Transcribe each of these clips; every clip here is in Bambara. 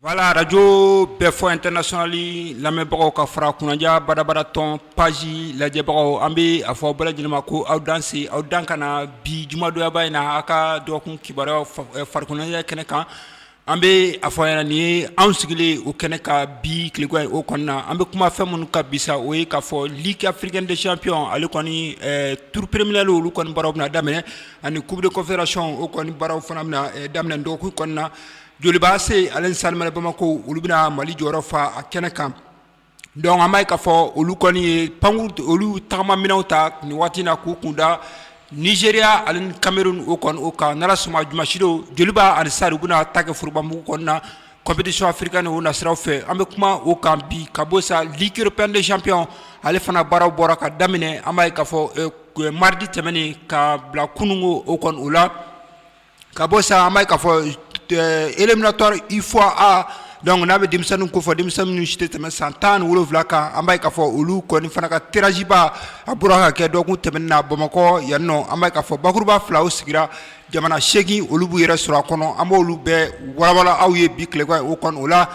Voilà arajo Bɛɛfɔ International lamɛnbagaw ka fara kunnaja badabada tɔn page lajɛbagaw an bɛ a fɔ aw bɛɛ lajɛlen ma ko aw danse aw dan kana na bi jumadonyaba in na a ka dɔgɔkun kibaruya farikoloɲɛnajɛ kɛnɛ kan an bɛ a fɔ aw ɲɛna nin ye an sigilen o kɛnɛ kan bi tileko o kɔnɔna na an bɛ kuma fɛn minnu kan bi sa o ye k'a fɔ Ligue africaine des champions ale kɔni tour préliminaire olu kɔni baaraw bɛna daminɛ ani coupe de confédération o kɔni baaraw fana bɛna daminɛ dɔgɔkun kɔnɔna na Joliba AC ale ni Stade malien bamakɔ olu bɛna mali jɔyɔrɔ fa a kɛnɛ kan donc an b'a ye k'a fɔ olu kɔni ye pan olu tagama minɛnw ta nin waati na k'u kunda Nigeria ale ni Cameroun o kɔni o kan n'Ala sɔnn'a ma dimasidon Joliba ani Stade u bɛna taa kɛ forobamugu kɔnɔna na compétition africaine o nasira fɛ an bɛ kuma o kan bi ka bɔ sa Ligue européenne des champions ale fana baaraw bɔra ka daminɛ an b'a ye k'a fɔ mardi tɛmɛnen ka bila kununko o kɔni o la Ka bɔ sa an b'a ye k'a fɔ éliminatoire UFOA donc n'an bɛ denmisɛnnin ko fɔ denmisɛn minnu si tɛ tɛmɛ san tan ni wolonwula kan an b'a ye k'a fɔ olu kɔni fana ka tirage ba a bɔra ka kɛ dɔgɔkun tɛmɛn na bamakɔ yan nɔ an b'a ye k'a fɔ bakuruba fila o sigira jamana seegin olu b'u yɛrɛ sɔrɔ a kɔnɔ an b' olu bɛɛ walawala aw ye bi tileko o kɔni o la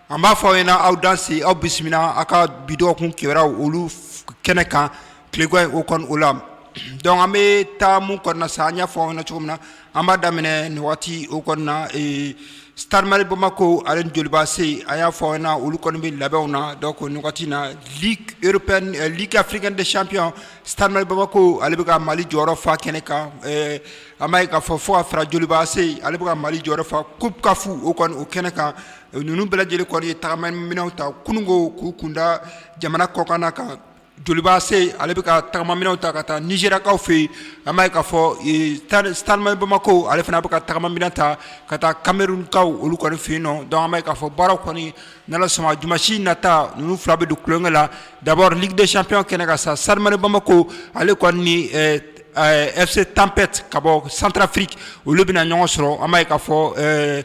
An b'a fɔ aw ɲɛna aw danse aw bisimila aw ka bi dɔgɔkun kibaru olu kɛnɛ kan tileko o kɔni o la donc an bɛ taa min kɔnɔna sa an y'a fɔ aw ɲɛna cogo min na an b'a daminɛ nin waati o kɔnɔna Stade malien Bamakɔ ale ni Joliba AC an y'a fɔ na olu kɔni bɛ labɛnw na donc nin wagati na Ligue européenne Ligue africaine des champions Stade malien Bamakɔ ale bɛ ka mali jɔyɔrɔ fa kɛnɛ kan an b'a ye k'a fɔ fo ka fara Joliba AC ale bɛ ka mali jɔyɔrɔ fa coupe CAF o kɔni o kɛnɛ kan Ninnu bɛɛ lajɛlen kɔni ye tagama minɛnw ta kununko k'u kunda jamana kɔkan na kan Joliba AC ale bɛ ka tagama minɛnw ta ka taa Nigeriakaw fɛ yen an b'a ye k'a fɔ Stade malien Bamakɔ ale fana a bɛ ka tagama minɛn ta ka taa Camerounkaw olu kɔni fɛ yen nɔ donc an b'a ye k'a fɔ baara kɔni n'Ala sɔnn'a ma dimasi nata ninnu fila bɛ don kɛlɛ la d'abord Ligue des champions kɛnɛ kan sa Stade malien Bamakɔ ale kɔni ni FC Tempête ka bɔ Centrafrique olu bɛna ɲɔgɔn sɔrɔ an b'a ye k'a fɔ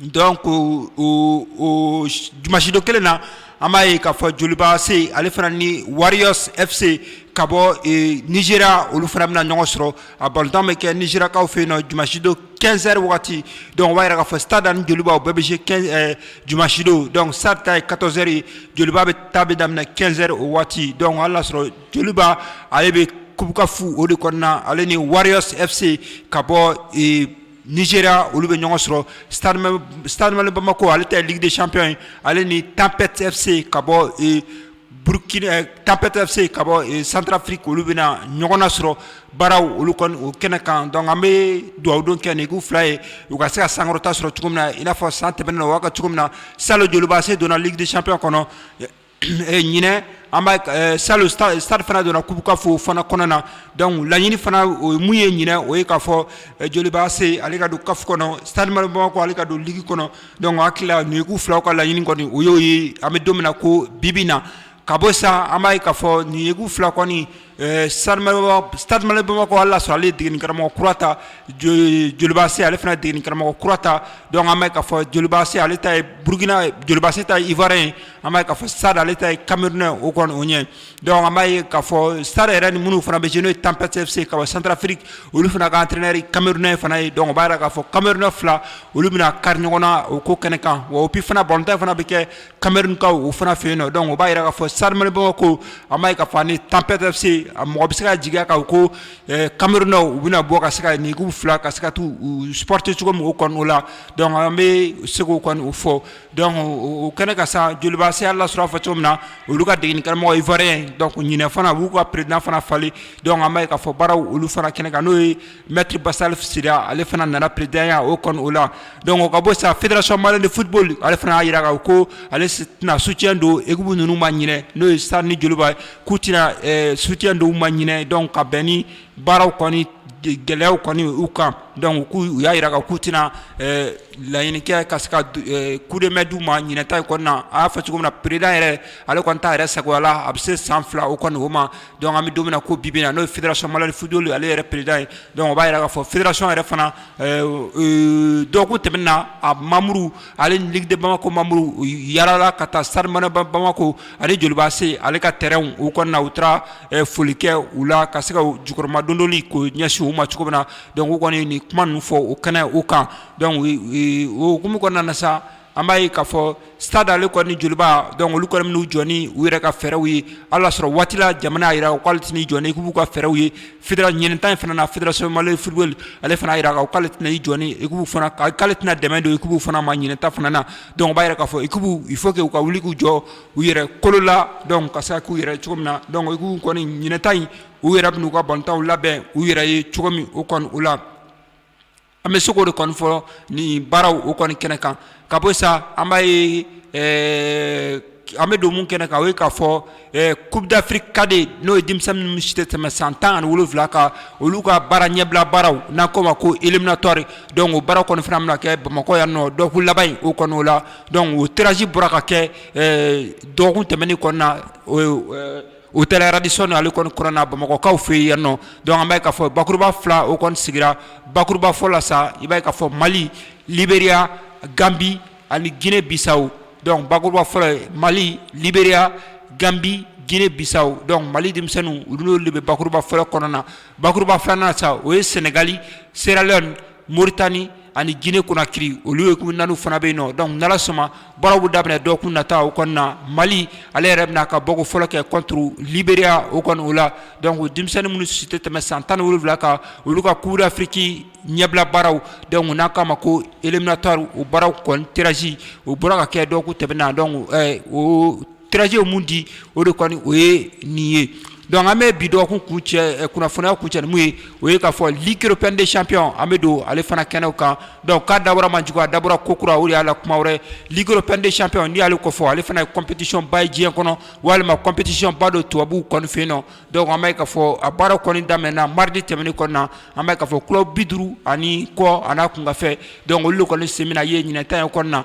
Dɔn ko o jumasidon kelen na an b'a ye kaa fɔ jolibase ale fana ni warifse ka bɔ niz olu fana bɛna na ɲɔgɔn sɔrɔ a balotan bɛ kɛ nizkaw fɛ yen na jumasidon kɛsɛri waati dɔn wɛrɛ ka fɔ sada ni joliba bɛɛ bɛ jumasidon dɔn sata ye kasɛri joliba bɛ ta bɛ daminɛ kɛsɛri o waati dɔn y'a sɔrɔ joliba ale bɛ kubafu o de kɔnɔna ale ni wari fse ka bɔ nigeria olu bɛ ɲɔgɔn sɔrɔ stade malien de bamakɔ ale ta ye ligue des champions ye ale ni tempête FC ka bɔ burkina tempête FC ka bɔ centrafrique olu bɛna ɲɔgɔn na sɔrɔ baaraw olu kɔni o kɛnɛ kan donc an bɛ dugawu don kɛ nin ekipu fila ye u ka se ka sankɔrɔta sɔrɔ cogo min na i n'a fɔ san tɛmɛnen na u y'a kɛ cogo min na salon joliba AC donna ligue des champions kɔnɔ ɲinɛn an b'a ye salon stade fana donna coupe CAF fana kɔnɔna na donc laɲini fana o mun ye ɲinɛn o ye k'a fɔ joliba AC ale ka don CAF kɔnɔ stade malien de bamakɔ ale ka don ligue kɔnɔ donc hakili la nin ekipu fila ka laɲini kɔni o y'o ye an bɛ don min na ko bi bi na ka bɔ sa an b'a ye k'a fɔ nin ekipu fila kɔni Stade malien de bamakɔ ala sɔrɔ ale degenikaramɔgɔ kura ta joliba AC ale fana degenikaramɔgɔ kura ta donc an b'a ye k'a fɔ joliba AC ale ta ye burkina joliba AC ta ye ivoirien ye an b'a ye k'a fɔ stade ale ta ye camerounais o kɔni o ɲɛ donc an b'a ye k'a fɔ stade yɛrɛ ni minnu fana bɛ jɛ n'o ye tempête FC ka centrafrique olu fana ka entraîneur camerounais fana ye donc o b'a jira k'a fɔ camerounais fila olu bɛna kari ɲɔgɔn na o ko kɛnɛ kan wa et puis fana balontan fana bɛ kɛ kamalenmeri u fana fɛ yen nɔ dɔn u b'a jira k'a fɔ sarimanibaw ko a ma ka fɔ ni tanptese a mɔgɔ bɛ se ka jigin kan ko kamalenmeri u bɛna bɔ ka se ka nin fila ka se ka taa sute cogo min kɔnɔ la an bɛ segu kɔni u fɔ u kɛnɛ ka san jolibaseya la sɔrɔfa cogo min na olu ka degeg karamɔgɔmɔgɔ ifarin ɲinin fana u'u ka peredfana falen ka fɔ baararaww olu fana kɛnɛ kan n'o ye Maître bassalifou sylla ale fana nana presidentya o kɔni o la donc o ka bɔ sa federation malienne de football ale fana y'a jira ko ale tɛna soutien don ekipu ninnu ma ɲinɛn n'o ye stade ni joliba k'u tɛna soutien don u ma ɲinɛn donc ka bɛn ni baaraw kɔni gɛlɛya kɔni u kan donc k'u y'a jira k'u tɛna laɲini kɛ ka se ka coup de main di u ma ɲinɛn ta kɔnɔna a y'a fɔ cogo min na president yɛrɛ ale kɔni ta yɛrɛ sagoya la a bɛ se san fila o kɔni o ma Don bɛ don ko bi na n'o fira sɔnmari fuj ale yɛrɛ pered ye dɔnku b'a jira' fɔ feere sɔn yɛrɛ fana dɔgɔkun tɛm na a mamudu ale dikiden bamakɔ mamudu yaarala ka taa sabanaba bamakɔ ale jolibaase ale ka tɛ u ka na u taara foli kɛ u la ka se ka jukɔrɔmadon ko ɲɛsin u ma cogo min na dɔnku kɔni nin kuma fɔ u kɛnɛ u kan dɔnkuc okumu kɔnɔna na sa an b'a ye k'a fɔ stade ale kɔni joliba donc olu kɔni bɛn'u jɔ ni u yɛrɛ ka fɛɛrɛw ye hali y'a sɔrɔ waati la jamana y'a jira u k'ale tɛn'i jɔ ni ekipu ka fɛɛrɛw ye federa ɲinɛn ta in fana na federation malienne de football ale fana y'a jira k'a fɔ k'ale tɛna i jɔ ni ekipu fana k'ale tɛna dɛmɛ don ekipu fana ma ɲinɛn ta fana na donc o b'a jira k'a fɔ ekipu il faut que u ka wuli k'u jɔ u yɛrɛ kolo la donc ka se ka k'u yɛrɛ cogo min na donc ekipu kɔni ɲinɛn ta in u yɛrɛ bɛn'u ka balontanw labɛn u yɛrɛ ye cogo min o kɔni o la an bɛ se k'o de kɔni fɔ ni baaraw o kɔni kɛnɛ kan ka bɔ sa an b'a ye an bɛ don mun kɛnɛ kan o ye k'a fɔ coupe d'Afrique cadet n'o ye denmisɛnnin minnu si tɛ tɛmɛ san tan ani wolonwula kan olu ka baara ɲɛbila baaraw n'an k'o ma ko éliminatoire donc o baara kɔni fana bɛna kɛ bamakɔ yan nɔ dɔgɔkun laban in o kɔni o la donc o tirage bɔra ka kɛ dɔgɔkun tɛmɛnen kɔni na Hôtel Radisson ale kɔni kɔnɔna bamakɔkaw fɛ yan nɔ donc an b'a ye k'a fɔ bakuruba fila o kɔni sigira bakuruba fɔlɔ la sa i b'a ye k'a fɔ mali Libéria Gambie ani Guinée Bissau donc bakuruba fɔlɔ mali Libéria Gambie Guinée Bissau donc mali denmisɛnninw olu de bɛ bakuruba fɔlɔ kɔnɔna na bakuruba filanan na sa o ye sɛnɛgali Sierra Leone moritani ani jinɛ kunnakiiri olu ye naani fana bɛ yen nɔ dɔnku dala sɔnma baararaww daminɛ dɔw kun nata u kɔnɔna na mali ale yɛrɛ bɛna ka bɔ fɔlɔ kɛ kɔntu libereya u kɔnɔ u la dɔnkuc denmisɛnnin minnu si tɛ tɛmɛ san tan wolonwula kan olu ka kurudafiki ɲɛbila baararaww dɔnku n'a k'a ma ko eminatari u baararaww kɔn tɛraz u bɔra ka kɛ dɔw tɛmɛna dɔn tirage ye mun di o de kɔni o ye nin ye donc an bɛ bi dɔgɔkun kuncɛ eh, kunnafoniya kuncɛ ni mun ye o ye k'a fɔ ligue européenne des champions an bɛ don ale fana kɛnɛw kan donc k'a dabɔra man jugu a dabɔra ko kura o de y'a la kuma wɛrɛ ligue européenne des champions n'i y'ale kofɔ ale fana ye compétition ba ye diɲɛ kɔnɔ walima compétition ba don tubabuw kɔni fɛ yen nɔ donc an b'a ye k'a fɔ a baara kɔni daminɛna mardi tɛmɛnen kɔni na an b'a ye k'a fɔ club bi duuru ani kɔ a n'a kunkanfɛn donc olu de kɔni sen bɛna ye ɲinan ta in kɔni na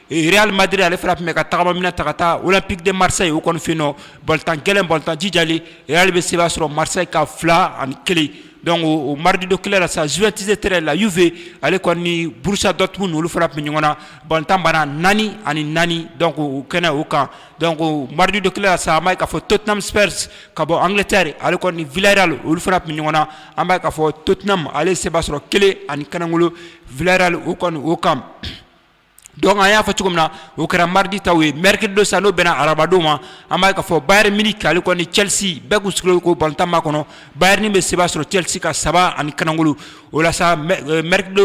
Real Madrid ale fana tun bɛ ka tagamaminɛ ta ka taa Olympique de Marseille o kɔni fɛ yen nɔ, balontan gɛlɛn, balontan jijalen, Real bɛ seba sɔrɔ Marseille kan 2 ani 1 donc o mardi don kelen na sa Juventus de Turin la Juve ale kɔni ni Borussia Dortmund olu fana tun bɛ ɲɔgɔn na, balontan banna 4 ani 4 donc o kɛnɛ o kan donc o mardi don kelen na sa, an b'a ye k'a fɔ Tottenham Spurs ka bɔ Angleterre ale kɔni ni Villarreal olu fana tun bɛ ɲɔgɔn na, an b'a ye k'a fɔ Tottenham ale ye seba sɔrɔ 1 ani kanagolo Villarreal o kɔni o kan Donc an y'a fɔ cogo min na o kɛra mardi taw ye mercredi don sa n'o bɛnna arabadon ma an b'a ye k'a fɔ bayern munich ale kɔni Chelsea bɛɛ kun sigilen ko balontan ma kɔnɔ bayern bɛ seba sɔrɔ Chelsea kan saba ani kanagolo o la sa mercredi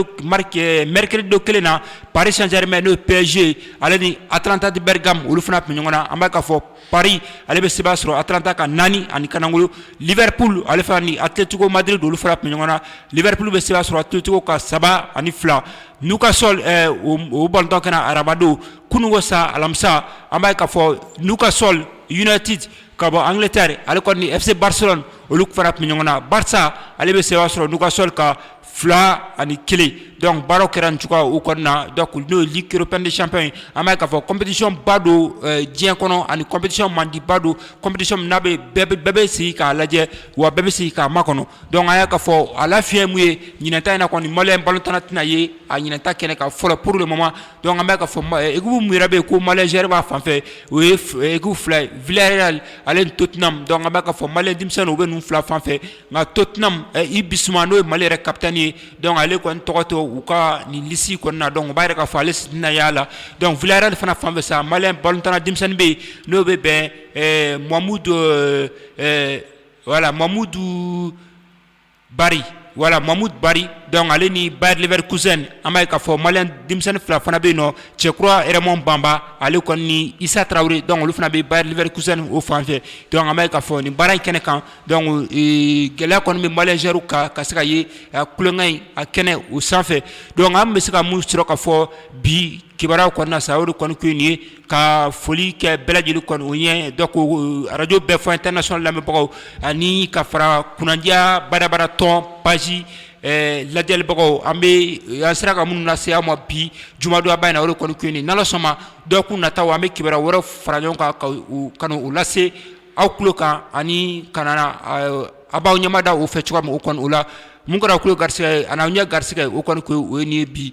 don kelen na Paris Saint-Germain n'o ye PSG ale ni Atalanta de Bergame olu fana tun bɛ ɲɔgɔn na an b'a ye k'a fɔ paris ale bɛ seba sɔrɔ Atalanta kan naani ani kanagolo Liverpool ale fana ni Atletico Madrid olu fana tun bɛ ɲɔgɔn na Liverpool bɛ seba sɔrɔ Atletico kan saba ani fila Newcastle o balontan kɛra arabadon kunun sa alamisa an b'a ye k'a fɔ Newcastle United ka bɔ Angleterre ale kɔni ni FC Barcelone olu fana tun bɛ ɲɔgɔn na Barça ale bɛ seba sɔrɔ Newcastle kan fila ani kelen dɔnku baara kɛra cogoya u kɔnɔna na da n'o li kiurpɛcp in an b'a k'a fɔ coptisiɔnba don diɲɛ kɔnɔ ani coptisi mandiba don coptisi n'a bɛɛ bɛ sigi k'a lajɛ wa bɛɛ bɛ sigi k'a ma kɔnɔ dɔnku a y'a ka fɔ a la fiɲɛyɛn min ye ɲinta in na kɔni mali in balo tanna tɛnaina ye a ɲinta kɛnɛ ka fɔlɔ pur de ma dɔn bɛ ka fɔ egu mi bɛ yen ko maliɛrɛ b'a fanfɛ o ye fila v ale to tɛna dɔn bɛ ka fɔ mali denmisɛnnin u bɛ n fila fanfɛ Nka Tottenham Yves Bissouma n'o ye mali yɛrɛ capitaine ye dɔnku ale kɔni tɔgɔ tɛ u ka nin lisi kɔni na dɔnku o b'a yira k'a fɔ ale tɛna y'a la dɔnku Villarreal fana fan fɛ sa mali balontanna denmisɛnnin bɛ yen n'o bɛ bɛn Mahamoud Barry voilà Mahamoud Barry dɔnku ale ni Bayer Leverkusen an b'a ye k'a fɔ malien denmisɛnnin fila fana bɛ yen nɔ Cɛkura Raymond Bamba ale kɔni ni Issa Traoré dɔnku olu fana bɛ Bayer Leverkusen o fan fɛ dɔnku an b'a ye k'a fɔ nin baara in kɛnɛ kan Dɔnku gɛlɛya kɔni bɛ malien joueur kan ka se ka ye tulonkɛ in a kɛnɛ o sanfɛ dɔnku an bɛ se ka min sɔrɔ ka fɔ bi kibaruya kɔnɔna sa o de kɔni ko nin ye ka foli kɛ bɛɛ lajɛlen kɔni o ye dɔnku arajo bɛɛ fɔ international lamɛnbagaw ani ka fara kunnadiya badabada tɔn page lajɛlibagaw an bɛ an sera ka minnu lase aw ma bi jumadonba in na o de kɔni ko nin ni ala sɔnna dɔgɔkun nata an bɛ kibaruya wɛrɛ fara ɲɔgɔn kan ka na u lase aw tulo kan ani ka na a b'aw ɲɛmada o fɛ cogoya min o kɔni o la min kɛra tulo garisigɛ ye ani aw ɲɛ garisigɛ o kɔni ko o ye nin ye bi